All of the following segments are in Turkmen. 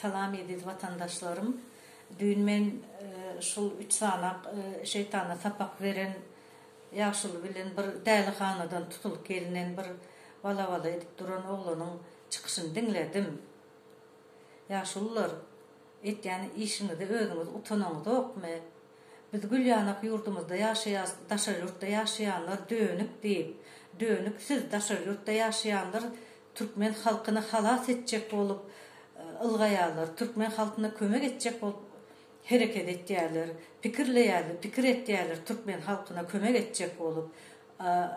Salam eziz watandaşlarym. Düýn men şul üç sanak şeýtana sapak beren ýaşuly bilen bir dälihanadan tutulyp gelinen bir bala bala edip duran oglanyň çykyşyny diňledim. Ýaşulylar etýän işiňizi özüňiz utanaňyzokmy? Biz gül ýanak ýurdumyzda ýaşaýas daşary ýurtda ýaşaýanlar dönük diýip dönük siz daşary ýurtda ýaşaýanlar Türkmen halkyny halas etjek bolup ylgaýarlar, türkmen halkyna kömek etjek bolup hereket etýärler, pikirleýärler, pikir etýärler türkmen halkyna kömek etjek bolup.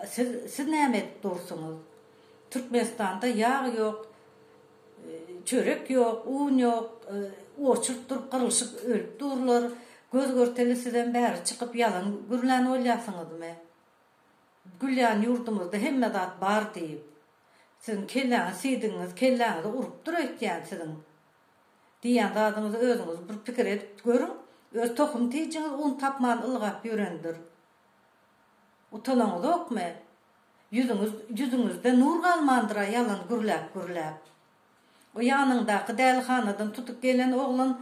Siz, siz näme edip dursuňyz? Türkmenistanda ýag ýok, çörek ýok, un ýok, oçurk durup gyrylşyp ölüp durlar. Göz görteli sizem bäri çykyp ýalan gürlän bolýarsyňyzmy? Gülýän ýurdumyzda hemme zat bar diýip. Siziň kelläňiz siýdigiňiz kelläňizi urupdyr öýtýän siziň diýýän zadyňyzy özüňiz bir pikir edip görüň öz tohum tijiňiz un tapman ylgap ýörendir utanaňyzokmy ýüzüňiz ýüzüňizde nur galmandyra ýalan gürläp gürläp. O ýanyňdaky dälihanadan tutup gelen oglan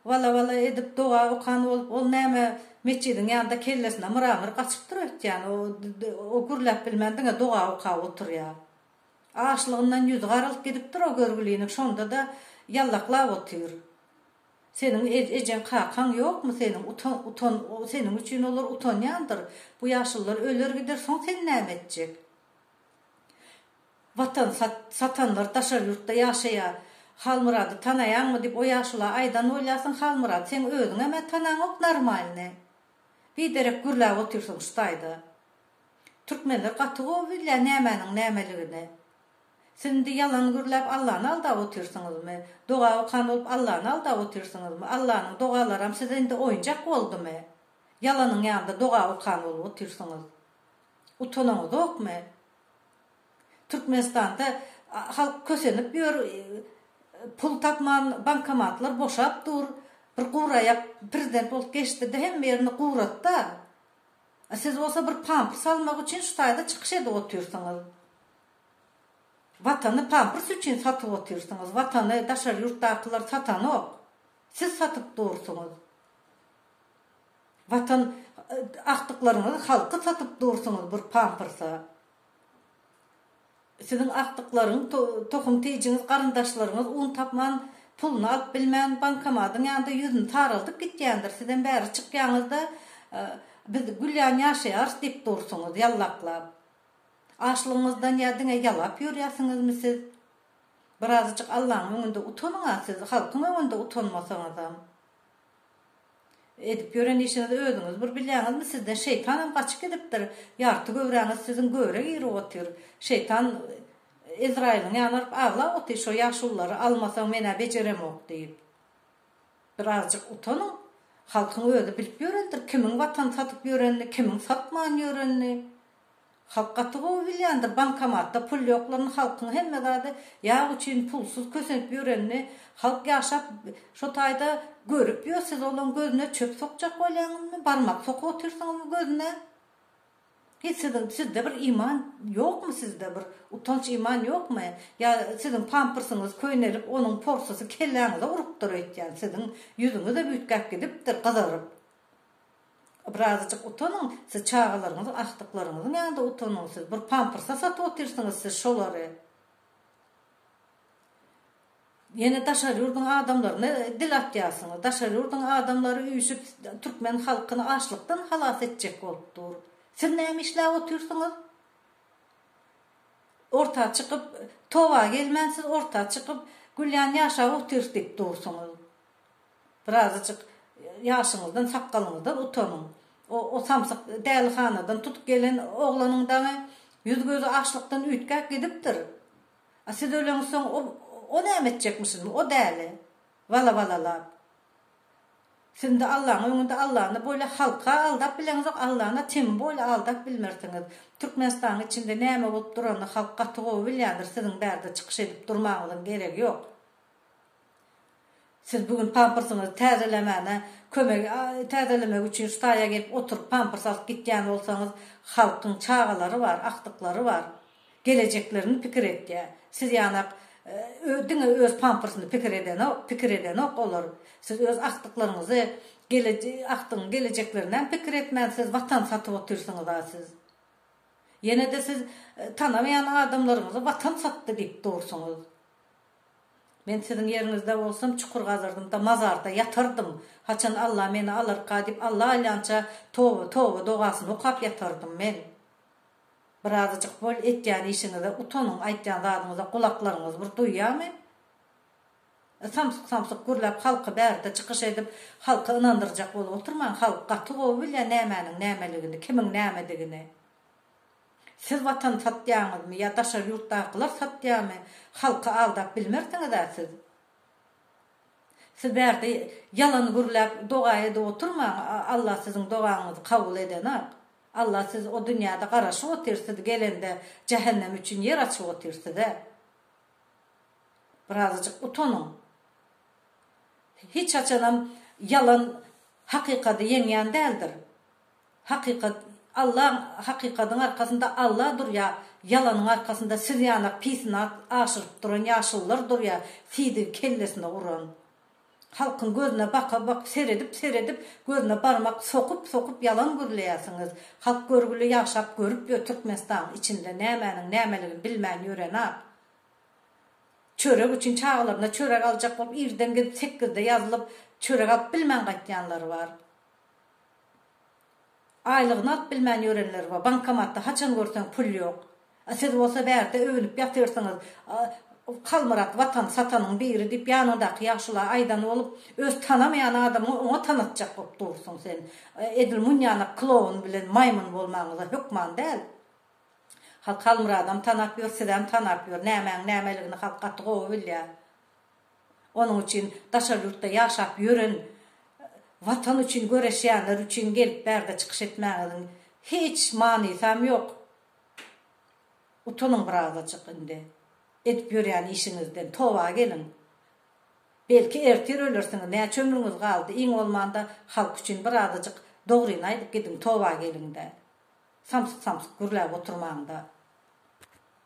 wala-wala edip doga okan bolup, ol näme metjidiň ýanynda kellesine myra-myr gaçypdyr öýtýän, o gürläp bilmän diňe doga okap oturýar. Açlygyndan ýüzi garalyp gidipdir o görgülinik, şonda-da ýallaklap otyr. Seniň ejeň, kakaň ýokmy seniň, utan, seniň üçin olar utanýandyr. Bu ýaşlylar öler gider, soň sen näme etjek? Watan sat, satanlar daşary ýurtda ýaşaýar. Halmyrady tanaýaňmy diýip o ýaşula aýdan bolýarsyň Halmyrat seň özüňem-ä tanaňok normalny. Biderek gürläp otyrsyň şu taýda. Türkmenler gaty gowy bilýär nämäniň nämeligini. Siz indi ýalan gürläp Allany aldap otyrsyňyzmy? Doga okan bolup Allany aldap otyrsyňyzmy? Allanyň dogalaram size indi oýunjak boldumy? Ýalanyň ýanynda doga okan bolup otyrsyňyz. Utanyňyzokmy? Türkmenistanda halk kösenip ýör, pul tapman bankomatlar boşap dur, bir guraýak prezident bolup geçdide hemme ýerini guratda, a siz bolsa bir pamprs almak üçin şu taýda çykyş edip otyrsyňyz. Watany pamprs üçin satyp otyrsyňyz, watany daşary ýurtdakylar satanok, siz satyp dursyňyz. Watan agtyklaryňyzy halky satyp dursuňyz bir pampyrsa. Siziň agtyklaryň tohum tijiňiz garyndaşlaryňyz un tapman puluny alyp bilmän bankomadyň ýanynda ýüzüni saraldyp gitýändir sizem bäri çykýaňyzda biz gül ýan ýaşaýarys diýip dursuňyz ýallaklap. Açlygyňyzdan ýa diňe ýalap ýörýäsiňizmi siz. Birazajyk Allaň öňünde utanyňa siz halkyň öňünde utanmasaňyzam. Edip ýören işiňizi özüňiz bir bilýäňizmi? Sizden şeýtanam gaçyp gidipdir. Ýarty göwräňiz siziň göwrä girip otyr. Şeýtan Ezraýylyň ýanyna baryp aglap otyr, şo ýaşululary almasaň men-ä bejeremok diýip. Birazjyk utanyň. Halkyň özi bilip ýörendir, kimiň watany satyp ýörenini, kimiň satman ýörenini. Halk gaty gowy bilýändir bankomatda pul ýoklaryny halkyň hemme zady ýag üçin pulsuz kösenip ýörenini halk ýaşap şo taýda görüp ýör siz olaň gözüne çöp sokjak bolýaňyzmy barmak sokup otyrsyňyzmy gözüne hiç siziň sizde bir iman ýokmy sizde bir utanç iman ýokmy ýa siziň pamprsyňyz köýnelip onuň porsysy kelläňize urupdyr öýtýän siziň ýüzüňize büytgäp gidipdir gyzaryp. Birazajyk utanyň, siz çagalaryňyzyň agtyklaryňyzyň ýanynda utanyň, siz bir pampersa satyp otyrsyňyz siz şolary. Ýene daşary ýurduň adamlaryna dil atýarsyňyz, daşary ýurduň adamlary üýşüp türkmen halkyny açlykdan halas etjek bolup dur. Siz näme işläp otyrsyňyz? Orta çykyp, toba gelmän siz orta çykyp, gülýän ýaşap otyrs diýip dursyňyz. Birazajyk ýaşyňyzdan, sakgalyňyzdan utanyň. O samsyk dälihanadan tutup gelen oglanyň daňy, ýüz-gözi açlykdan üýtgäp gidipdir. A siz öleňsoň, o näme etjekmişin, o däli? Wala-walalap. Siz-de Allaň öňünde Allany bolýa halk-a aldap bileňzok, Allany temin bolýa aldap bilmersiňiz. Türkmenistanyň içinde näme bolup duranyny halk gaty gowy bilýändir, siziň bärde çykyş edip durmagyňyzyň geregi ýok. Siz bu gün pampersiňizi täzelemäne kömegi täzelemek üçin ştaýa gelip oturyp pampers alyp gitýän bolsaňyz, halkyň çagalary bar, agtyklary bar. Gelejeklerini pikir etýä. Siz ýanak diňe öz pampersini pikir edenok, pikir edenok olar. Siz öz agtyklaryňyzy, agtygyň gelejeklerinem pikir etmän siz watan satyp otyrsyňyza siz. Ýene-de siz tanamaýan adamlaryňyzy watan satdy diýip dursuňyz. Men siziň ýeriňizde bolsam çukur gazyrdym-da mazarda ýatardym. Haçan Alla meni alarka diýip Alla aýlança toba, toba dogasyny okap ýatardym men. Birazajyk bol etýän işiňize utanyň, aýtýan zadyňyza gulaklaryňyz bir duýýamy? E samsyk samsyk gürläp halky bärde çykyş edip halky ynandyrjak bolup oturmaň, halk gaty gowy bilýä nämäniň nämeligini, kimiň nämedigini. Siz watan satýaňyzmy ýa daşary ýurtdakylar satýamy halky aldap bilmersiňizä siz. Siz bärde ýalan gürläp doga edip oturmaň Alla siziň dogaňyzy kabul edenak. Alla siz o dünýäde garaşyp otyr siz gelende jähennem üçin ýer açyp otyr size. Birazajyk utanyň. Hiç haçanam ýalan hakykady ýeňýän däldir. Hakykat Alla hakykadyň arkasynda Alla durýa ýalanyň arkasynda siz ýanak pisynat aşyryp duran ýaşullar durýa sizi kellesine uran halkyň gözüne baka bak seredip seredip gözüne barmak sokup sokup ýalan gürleýäsiňiz halk görgüli ýaşap görüp ýör türkmenistaň içinde nämäniň nämeligini bilmän ýörenap çörek üçin çagalaryna çörek aljak bolup irden gidip sekizde ýazylyp çörek alyp bilmän gaýtýanlary bar Aýlygyny alyp bilmän ýörenler bar, bankomatda haçan görseň pul ýok. A siz bolsa bärde öwünip ýatyrsyňyz, Halmyrat watan satanyň biri diýip ýanyňdaky ýagşyla aýdan bolup, öz tanamaýan adamyňy oňa tanatjak bolup dursuň sen. Edil munýanak klowun bilen maýmyn bolmagyňyza hökman däl. Halk Halmyradam tanap ýör, sizem tanap ýör. Nämäň nämeligini halk gaty gowy bilýär. Onuň üçin daşary ýurtda ýaşap ýören Watan üçin göreşýänler üçin gelip bärde çykyş etmäňiziň hiç manysam ýok. Utanyň birazajyk indi edip ýörýän işiňizden toba geliň. Belki ertir ölersiňiz näçe ömrüňiz galdy iň bolmanda halk üçin birazajyk dogryny aýdyp gidiň toba geliňdä. Samsyk samsyk gürläp oturmaňda.